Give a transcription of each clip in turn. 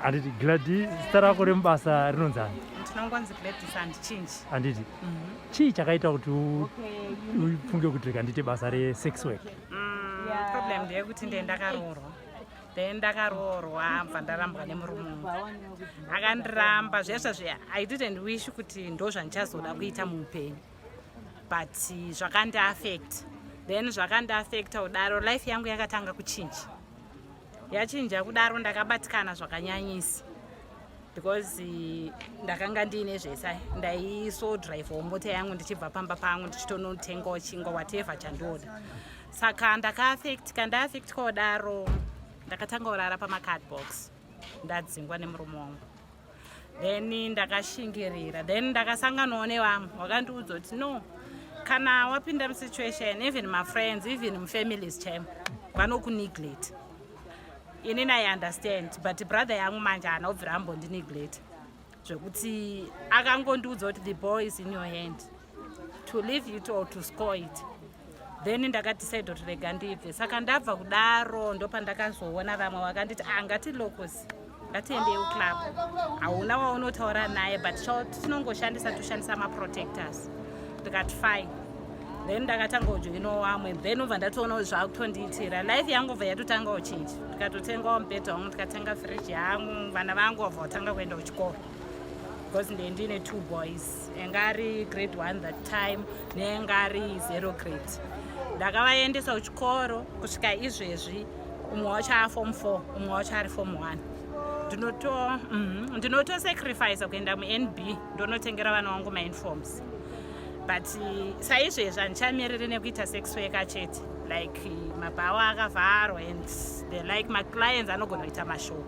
handiti gladi zita rako remubasa rinonzi ani handiti mhm. chii chakaita kuti ufunge kuti rika ndiite basa resex work mm, problem ndeyekuti ndiye ndakaroorwa then ndakaroorwa bva ndarambwa nemurume akandiramba zvesva zve i didn't wish kuti ndo zvandichazoda kuita muupenyu but zvakandiaffect then zvakandiaffecta kudaro life yangu yakatanga kuchinja yachinja kudaro ndakabatikana zvakanyanyisa because eh, ndakanga ndiine zvese ndaiso drive mota yangu ndichibva pamba pangu ndichitonotengawo chingwa whatever chandioda saka ndakaafectika ndaaffectika kudaro ndakatanga kurara pamacardbox ndadzingwa nemurume wangu then ndakashingirira then ndakasanganawo nevamwe wakandiudza kuti no kana wapinda musituation even mafriends even mufamilies chaimo vanokuneglate ini nai understand but brother yangu manje haana kubvira ambondi neglate zvekuti akangondiudza kuti the boy is in your hand to leave it or to score it then ndakadecide kuti rega ndibve saka ndabva kudaro ndopandakazoona vamwe vakanditi ah ngati locos ngatiendei uclub hauna waunotaura naye but tinongoshandisa toshandisa maprotectors ndikati fine then ndakatanga ujoino wamwe then ubva ndatoonawo zvakutondiitira life yangu bva yatotanga uchinji ndikatotengawo mubhedha wangu ndikatenga fridge yangu vana vangu vabva vatanga kuenda kuchikoro because ndendine two boys yanga ari grade one that time neyanga ari zero grade ndakavaendesa kuchikoro kusvika izvezvi umwe wacho ari form four umwe wacho ari form one ndinotosacrifice mhm, kuenda munb ndonotengera vana wangu mainforms but eh, saizvezvi handichamiriri nekuita sex weka chete like eh, mabhawa akavharwa and the like maclients anogona kuita mashoko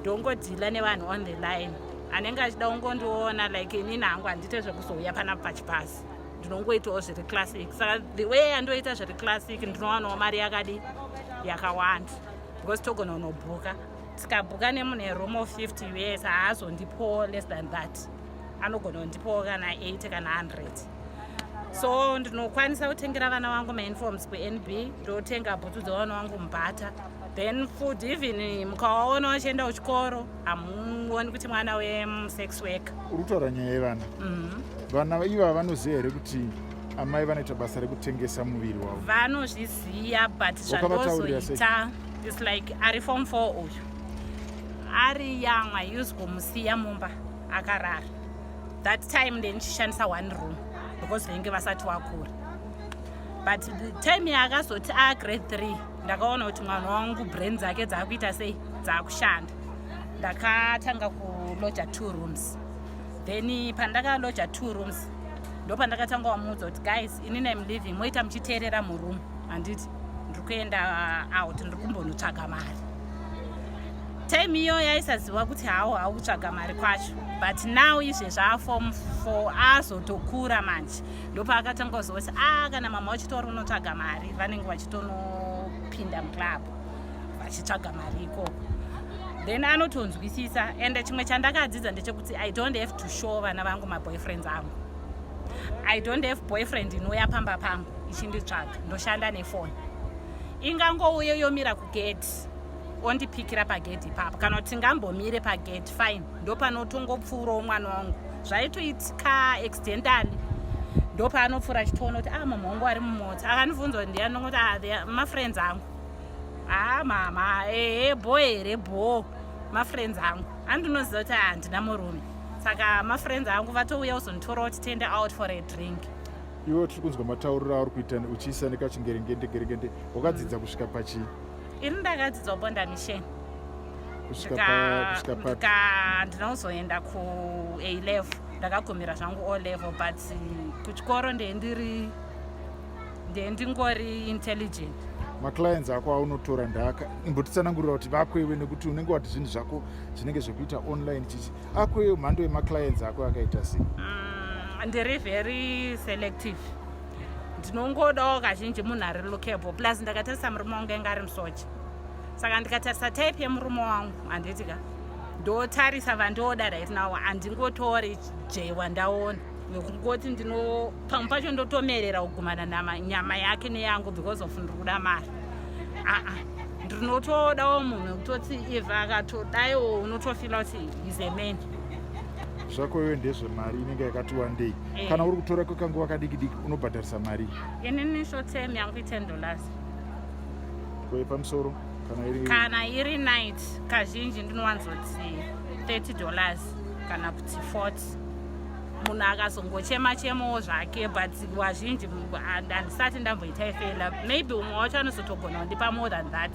ndongodhila nevanhu on the line anenge achida kungondiona like inini hangu handiite zvekuzouya panapa pachipasi ndinongoitawo zviri classic saka the way andoita zviri classic ndinowanawo mari yakadi yakawanda because togona kunobhuka tikabhuka nemunhu eroom of 50 us haazondipowo less than that anogona kundipowo kana 8 kana 100 so ndinokwanisa kutengera vana vangu mauniforms kunb ndotenga bhutsu dzevana vangu mubhata then food even mukawaona vachienda kuchikoro hamuoni kuti mwana wesex work uri kutaura nyaya yevana mhm. vana iva vanoziva here kuti amai vanoita basa rekutengesa muviri wavo vanozviziva but zvandozoita is like ari form four uyu ari young i use kumusiya mumba akarara that time ndenichishandisa one room because venge vasati wakura but time yaakazoti agrade three ndakaona kuti mwana wangu brain dzake dzaakuita sei dzaakushanda ndakatanga kuloja two rooms then pandakaloja two rooms ndopandakatanga wamuudza kuti guys ini nam living moita muchiteerera muroom handiti ndiri kuenda uh, out ndiri kumbonotsvaga mari time iyo yaisaziva kuti hawo haukutsvaga mari kwacho but now izvezvaafom four azotokura manje ndopaakatanga kuzoti ah kana mama wachitori unotsvaga mari vanenge vachitonopinda muclub vachitsvaga mari ikoko then anotonzwisisa ende chimwe chandakadzidza ndechekuti i don't have to show vana vangu maboyfriends angu i don't have boyfriend inouya pamba pangu ichinditsvaga ndoshanda nefoni ingangouye yomira kugeti ondipikira pagedhi ipapo kana kuti ngambomire pagedhi fine ndopanotongopfuurawo mwana wangu zvaitoitika accidentally ndopaanopfuura achitoona kuti a ah, mama wangu ari mumota akandibvunza kuti ndiani nongokuti ah, mafriends angu haa ah, mama ehe bho here bho mafriends angu andinoziva kuti handina murume saka mafriends angu vatouya uzonditora kuti tende out for a drink iwe tiri kunzwa matauriro auri kuita uchiisa nekachingeringende geringende wakadzidza kusvika pachii ini ndakadzidzwa bonda mission kusvika ndinozoenda kuA level ndakagumira zvangu O level but kuchikoro ndee ndiri ndee ndingori intelligent maclients ako aunotora ndaka imbotitsanangurira kuti vako iwe nekuti unenge wati zvinhu zvako zvinenge zvekuita online chichi ako iyo mhando yemaclients ako akaita sei mm, ndiri very selective ndinongodawo kazhinji munhu ari lookable plus ndakatarisa murume wangu enge ari musocha saka ndikatarisa type yemurume wangu handiti ka ndotarisa vandooda right now handingotori jay wandaona nekungoti ndino pamwe pacho ndotomerera kugumana nanyama yake neyangu because of ndiri kuda mari aa ndinotodawo munhu wekutoti iva akatodaiwo unotofila kuti is a man zvako iwe ndezvemari inenge yakati wandei eh. kana uri kutora kwekanguva kadikidiki unobhadharisa mari inini shotem yangu iten dollars kwepamusoro kana iri kana iri night kazhinji ndinowanzoti 30 dollars kana kuti 40 munhu akazongochema chemowo zvake but wazhinji handisati ndamboita ifela maybe umwe wacho anozotogona kundipa more than that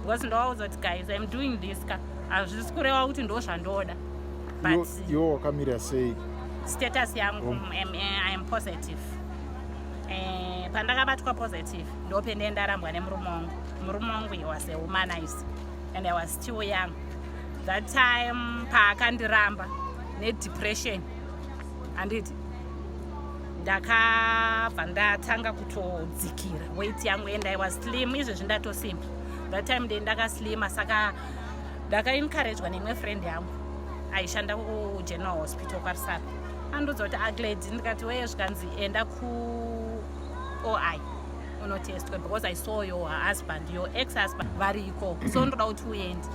because ndowaudza kuti guys im doing this ka hazvisi kureva kuti ndo zvandoda but iwo wakamira sei status yangu um, i am positive eh, pandakabatwa positive ndopende ndarambwa nemurume wangu murume wangu he was a womanize and i was still young that time paakandiramba nedepression handiti ndakabva ndatanga kutodzikira weit yangu and i was slim izvezvi ndatosimba that time ndendakaslima saka ndakaencouragwa neimwe friend yangu aishanda kugeneral hospital kwarisaka andiudza kuti agledi ndikati weye zvikanzi enda kuoi unotestwa because i saw your husband your ex husband vari iko so ndoda kuti uende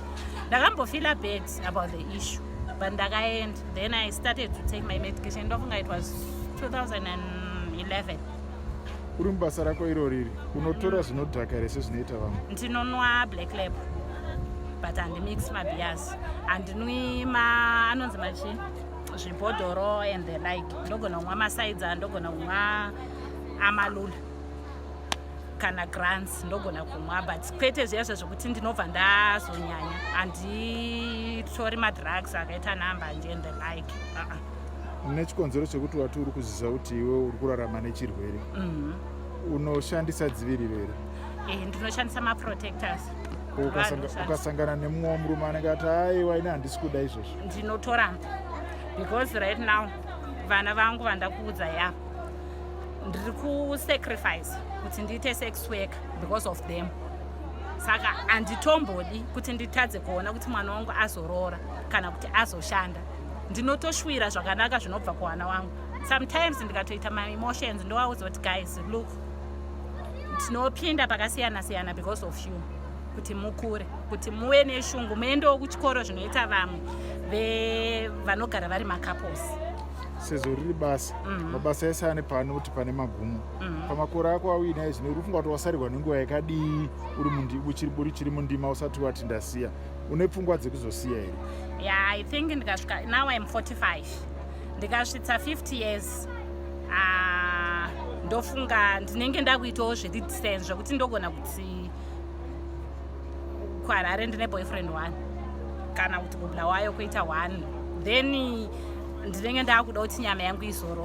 ndakambofila bad about the issue but ndakaenda then i started to take my medication ndofunga it was 2011 uri mubasa rako iro riri unotora zvinodhaka here sezvinoita vamwe ndinonwa black lab but handimix mabias handinwi ma anonzi machii zvibhodhoro and the like ndogona kunwa masaidza ndogona kunwa amalula kana grants ndogona kumwa but kwete zviya zve zvekuti ndinobva ndazonyanya handitori madrugs akaita nambanje and the like uh -uh. nechikonzero chekuti wati uri kuzviziva kuti iwe uri kurarama nechirwere mhm. unoshandisa dziviriro here eh, ndinoshandisa maprotectors ukasangana nemumwe murume anenge ati aiwa ini handisi kuda izvozvo ndinotora because right now vana vangu vandakuudza ya ndiri kusacrifice kuti ndiite sex work because of them saka handitombodi kuti nditadze kuona kuti mwana wangu azoroora kana kuti azoshanda ndinotoshwira zvakanaka zvinobva kuwana wangu sometimes ndikatoita maemotions ndowaudza kuti guys look tinopinda pakasiyana siyana because of you kuti mukure kuti muve neshungu muendewo kuchikoro zvinoita vamwe vanogara vari macouples sezvo riri basa mm. mabasa ese ane pane kuti pane magumo mm. pamakore ako auinaye zvino uri kufunga kuti wasarirwa nenguva yakadii uri uchiri mundima usati wati ndasiya une pfungwa dzekuzosiya here yeah i think ndikasvika now im 45 ndikasvitsa 50 years ah, ndofunga ndinenge ndakuitawo zviri distance zvekuti ndogona kuti kuharare ndine boyfriend one kana kuti kubla wayo kuita one then ndinenge ndakuda kuti nyama yangu izorora